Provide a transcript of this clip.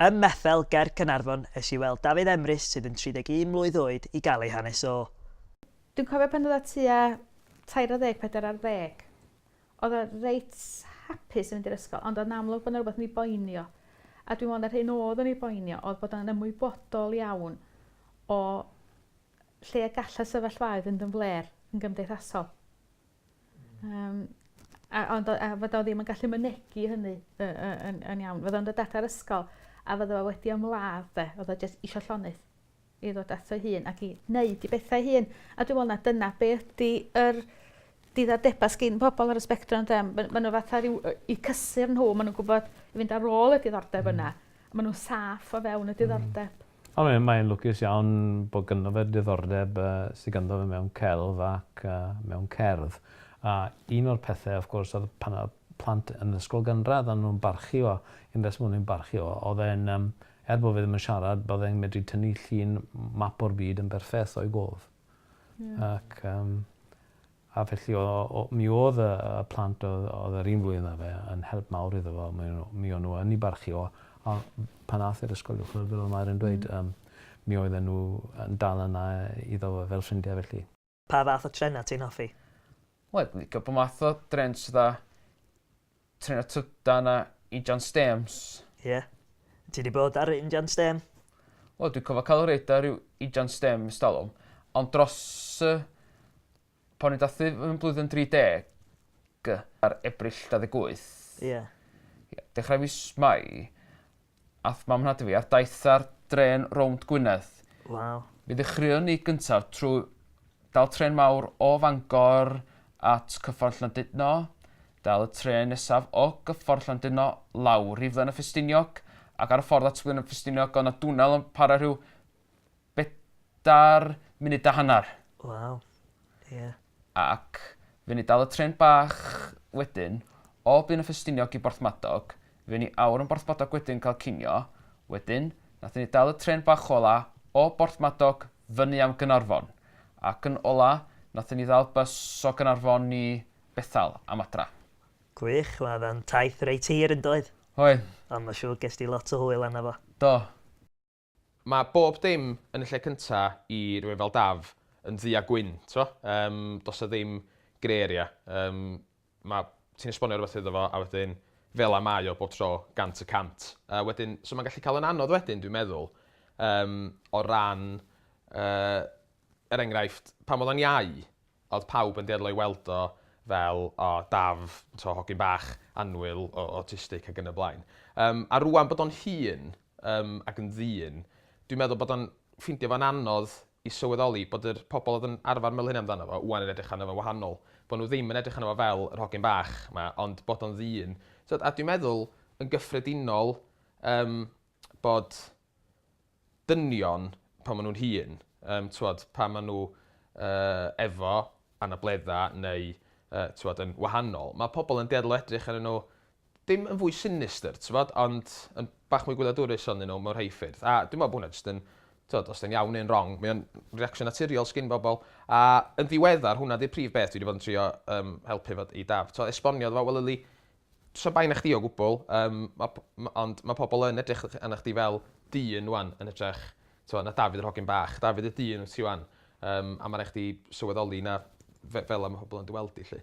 Ym Methel ger Caernarfon es i weld Dafydd Emrys sydd yn 31 mlwydd oed i gael ei hanes o. Dwi'n cofio pan oedd o tua tair ar ddeg, pedair ar ddeg, oedd o reit hapus yn mynd i'r ysgol ond oedd 'na amlwg bod 'na rywbeth yn ei boeni o. A dwi'n meddwl 'na'r hyn oedd yn ei boeni o oedd bod o'n ymwybodol iawn o lle y gall y sefyllfaoedd fynd yn flêr yn gymdeithasol. Yym a ond o- a fod o ddim yn gallu mynegi hynny yy yy yn yn iawn. Fydda o'n dod at yr ysgol a fydda o wedi ymladd 'de o'dd o jyst isio llonydd i ddod ato 'i hun ac i neud 'i bethau 'i hun a dwi me'wl na dyna be' ydi yr diddordeba sgin pobol ar y sbectrum ynde m- ma' ma' n'w fatha ryw yy 'u cysur nhw ma' nw'n gwbod i fynd ar ôl y diddordeb yna. Hmm. Ma' nw'n saff o fewn y diddordeb. Ond mae mae e'n lwcus iawn bod ganddo fe diddordeb yy sy ganddo fe mewn celf ac yy mewn cerdd. A un o'r pethe wrth gwrs odd pan odd plant yn ysgol gynradd o'n nw'n barchu o un reswm o'n nw'n barchu o odd e'n yym er bo' fe ddim yn siarad bo' fe'n medru tynnu llun map o'r byd yn berffeth o'i gof. Ie. Ac yym A felly o, o, mi oedd y, y plant oedd, oedd yr un flwyddyn â fe yn help mawr iddo fo. Mi, mi o'n nhw yn ei barchu o. A pan ath i'r ysgol uwchradd, fel oedd Mair yn dweud, mm. um, mi oedden nhw yn dal yna iddo fo fel ffrindiau felly. Pa fath o trenau ti'n hoffi? Wel, dwi'n licio pob math o drens fatha Trin y trydan na injan stêms. Ie. Ti di bod ar injan stêm? Wel, dwi'n cofio cael reid ar ryw injan stêm ys talwm. Ond dros y... Pan i'n dathu yn blwyddyn 30, ar Ebrill 28. Ie. Ie. Dechrau fis Mai, Ath mam nhad i fi ar daith ar drên rownd Gwynedd. Waw. Mi ddechreuon ni gyntaf trwy dal trên mawr o Fangor at Cyffordd Llandudno, dal y trên nesaf o Gyffordd Llandudno lawr i Flaen y Ffestiniog ac ar y ffordd at Flaen y Ffestiniog o'dd 'na dwnnel yn para rhyw bedair munud a hanner. Waw, ie. Ac fuon ni dal y trên bach wedyn, o Byn y Ffestiniog i Borthmadog, fuon ni awr yn Borthmadog wedyn cael cinio, wedyn, nathon ni dal y trên bach ola o Borthmadog fyny am Gaernarfon, ac yn ola nathon ni ddal bys o Gaernarfon i Bethal am adra. Gwych, wel oedd o'n taith reit hir yn doedd? Oedd. Ond ma' siŵr ges di lot o hwyl arno fo. Do. Mae bob dim yn y lle cynta i rywun fel Daf yn ddu a gwyn, t'mo'? Yym, do's 'na ddim grey area. Yym, ma'... ti'n esbonio rwbeth iddo fo a wedyn fel 'a mae o bob tro, gant y cant. A wedyn, so ma'n gallu ca'l yn anodd wedyn, dwi'n meddwl, yym, o ran yy, er enghraifft, pan o'dd o'n iau, Odd pawb yn dueddol o'i weld o fel o daf, t'o' hogyn bach annwyl o- awtistig ag yn y blaen. Yym a rŵan bod o'n hŷn yym ac yn ddyn dwi'n meddwl bod o'n ffeindio fo'n anodd i sylweddoli bod yr pobol odd yn arfar meddwl hynna amdano fo ŵan yn edrych arno fo'n wahanol. Bo' nhw ddim yn edrych arno fo fel yr hogyn bach 'ma ond bod o'n ddyn. T'od a dwi'n meddwl yn gyffredinol yym bod dynion pan ma' nw'n hŷn yym t'wod pan ma' n'w yy efo anabledda neu yy t'wod yn wahanol ma' pobol yn dueddol o edrych arnyn n'w dim yn fwy sinistr t'mod ond yn bach mwy gwyliadwrus onyn n'w mewn rhei ffyrdd a dwi me'wl bo' hwnna jyst yn t'wod os 'di o'n iawn neu'n rong mae o'n reaction naturiol sgin bobol a yn ddiweddar hwnna 'di'r prif beth dwi 'di bod yn trio yym helpu efo i Daf t'o' esbonio iddo fo wel yli Tra bai na chdi o gwbl yym ma' p- ma' ond ma' pobol yn edrych yy arnach chdi fel dyn ŵan yn hytrach t'mo' na Dafydd yr hogyn bach. Dafydd y dyn wyt ti ŵan yym a ma' rai' chdi sylweddoli na fe- fela ma' pobol yn dy weld di 'lly.